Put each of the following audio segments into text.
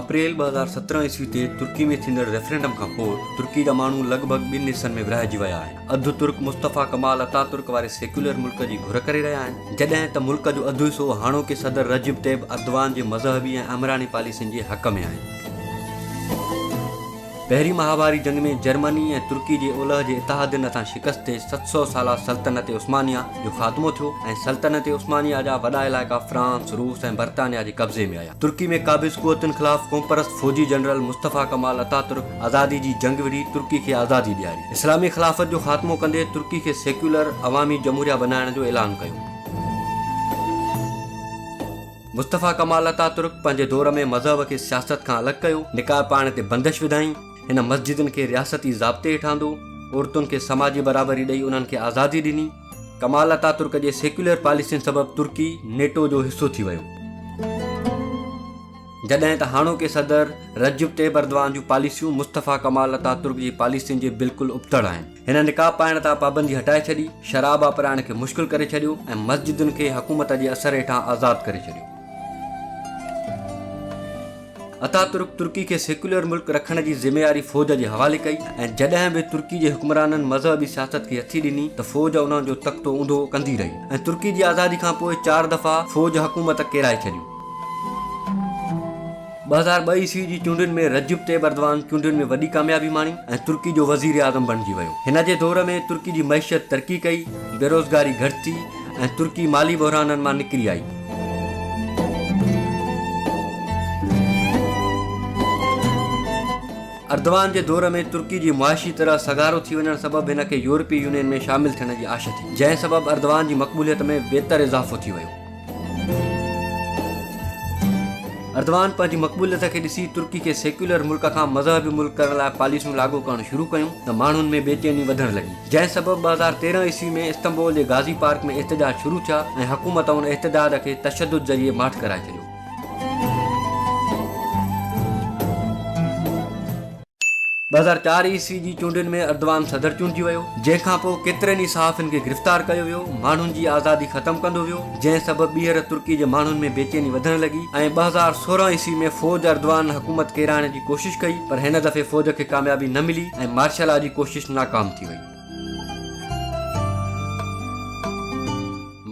اپريل ٻه هزار سترهن عيسوي تي ترڪي ۾ ٿيندڙ ريفرنڊم کان پوء ترڪي جا ماڻهو لڳ ڀڳ ٻن حصن ۾ ورهائجي ويا آهن اڌ ترڪ مصطفيٰ ڪمال اتا ترڪ واري سيڪيولر ملڪ جي گهر ڪري رهيا آهن جڏهن ته ملڪ جو اڌ حصو هاڻوڪي صدر رجب طيب اردوان جي مذهبي ۽ آمراني پاليسين جي حق ۾ آهن پهرين مهاڀاري جنگ ۾ جرمني ۽ ترڪي جي اولهه جي اتحادين هٿان شڪست تي ست سؤ سالا سلطنت عثمانيه جو خاتمو ٿيو ۽ سلطنت عثمانيه جا وڏا علائقا فرانس، روس ۽ برطانيه جي قبضي ۾ آيا. ترڪي ۾ قابض قوتن خلاف قومپرست فوجي جنرل مصطفيٰ ڪمال اتاترڪ آزادي جي جنگ وڙهي ترڪي کي آزادي ڏياري. اسلامي خلافت جو خاتمو ڪندي ترڪي کي سيڪيولر عوامي جمهوريه بنائڻ جو اعلان ڪيو. مصطفيٰ ڪمال اتاترڪ پنهنجي دور ۾ مذهب کي سياست کان الڳ ڪيو، نڪاح پاڙڻ تي بندش وڌائين، هن مسجدن کي رياستي ضابطي هيٺ آندو، عورتن کي سماجي برابري ڏئي انهن کي آزادي ڏني. ڪمال اتاترڪ جي سيڪيولر پاليسين سبب ترڪي نيٽو جو حصو ٿي ويو. جڏهن ته هاڻوڪي صدر رجب طيب اردوان جون پاليسيون مصطفيٰ ڪمال اتاترڪ جي پاليسين جي بلڪل ابتڙ آهن. هن نقاب پائڻ تان پابندي هٽائي ڇڏي، شراب آپرائڻ کي مشڪل ڪري ڇڏيو ۽ مسجدن کي حڪومت جي اثر هيٺان آزاد ڪري ڇڏيو. اتاترڪ ترڪي کي سيڪيولر ملڪ رکڻ جي ذميواري فوج جي حوالي ڪئي ۽ جڏهن به ترڪي جي حڪمرانن مذهبي سياست کي هٿي ڏني ته فوج انهن جو تختو اونڌو ڪندي رهي ۽ ترڪي جي آزادي کانپوء چار دفعا فوج حڪومت ڪيرائي ڇڏيو. ٻه هزار ٻه عيسوي جي چونڊن ۾ رجب طيب اردوان چونڊن ۾ وڏي ڪاميابي ماڻي ۽ ترڪي جو وزيراعظم بڻجي ويو. هن جي دور ۾ ترڪي جي معيشت ترقي ڪئي، بيروزگاري گهٽ ٿي ۽ ترڪي مالي بحرانن مان نڪري آئي. اردوان جي دور ۾ ترڪي جي معاشي طرح سگهارو ٿي وڃڻ سبب هن کي يورپي يونين ۾ شامل ٿيڻ جي آش ٿي، جنهن سبب اردوان جي مقبوليت ۾ ويتر اضافو ٿي ويو. اردوان پنهنجي مقبوليت کي ڏسي ترڪي کي سيڪيولر ملڪ کان مذهبي ملڪ ڪرڻ لاء پاليسيون لاڳو ڪرڻ شروع ڪيون ته ماڻهن ۾ بي چيني وڌڻ لڳي جنهن سبب ٻه هزار تيرهن عيسوي ۾ استنبول جي غازي پارڪ ۾ احتجاج شروع ٿيا ۽ حڪومت ان احتجاج کي تشدد ذريعي ماٺ ڪرائي ڇڏيو. ٻه هزار چار عيسوي جي چونڊن ۾ اردوان صدر چونڊجي ويو، جنهن کان پوء ڪيترن ئي صحافين کي گرفتار ڪيو ويو، ماڻهن جي آزادي ختم ڪندو ويو، جنهن سبب ٻيهر ترڪي جي ماڻهن ۾ بيچيني وڌڻ لڳي ۽ ٻه هزار سورهن عيسوي ۾ فوج اردوان حڪومت ڪيرائڻ جي ڪوشش ڪئي پر هن دفعي فوج کي ڪاميابي نه ملي ۽ مارشلا جي ڪوشش ناڪام ٿي وئي.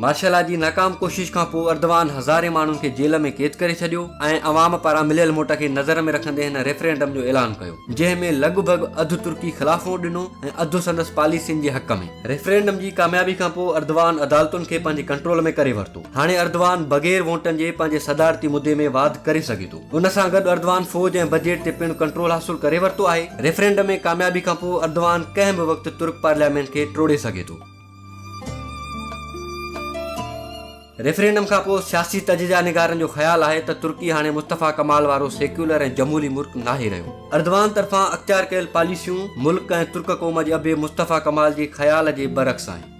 مارشل لا جي ناڪام ڪوشش کان پوء اردوان هزارين ماڻهن کي جيل ۾ قيد ڪري ڇڏيو ۽ عوام پاران مليل موٽ کي نظر ۾ رکندي هن ريفرينڊم جو اعلان ڪيو جنهن ۾ لڳ ڀڳ اڌ ترڪي خلاف ووٽ ڏنو ۽ اڌ سندس پاليسين جي حق ۾. ريفرينڊم جي ڪاميابي کان پوء اردوان عدالتن کي پنهنجي ڪنٽرول ۾ ڪري ورتو. هاڻي اردوان بغير ووٽن جي پنهنجي صدارتي مدي ۾ واڌ ڪري سگهي ٿو. ان سان گڏ اردوان فوج ۽ بجيٽ تي پڻ ڪنٽرول حاصل ڪري ورتو آهي، ريفرينڊم ۾ ڪاميابي کانپوء اردوان ڪنهن به وقت ترڪ پارليامينٽ کي ٽوڙي سگهي ٿو. ريفرينڊم کانپوء سياسي تجزيا نگارن جو خيال آهي ته ترڪي هاڻي مصطفيٰ ڪمال وارو سيڪيولر ۽ جمهوري ملڪ ناهي رهيو. اردوان طرفان اختيار ڪيل پاليسيون ملڪ ۽ ترڪ قوم جي ابي مصطفيٰ ڪمال جي خيال جي برعڪس آهن.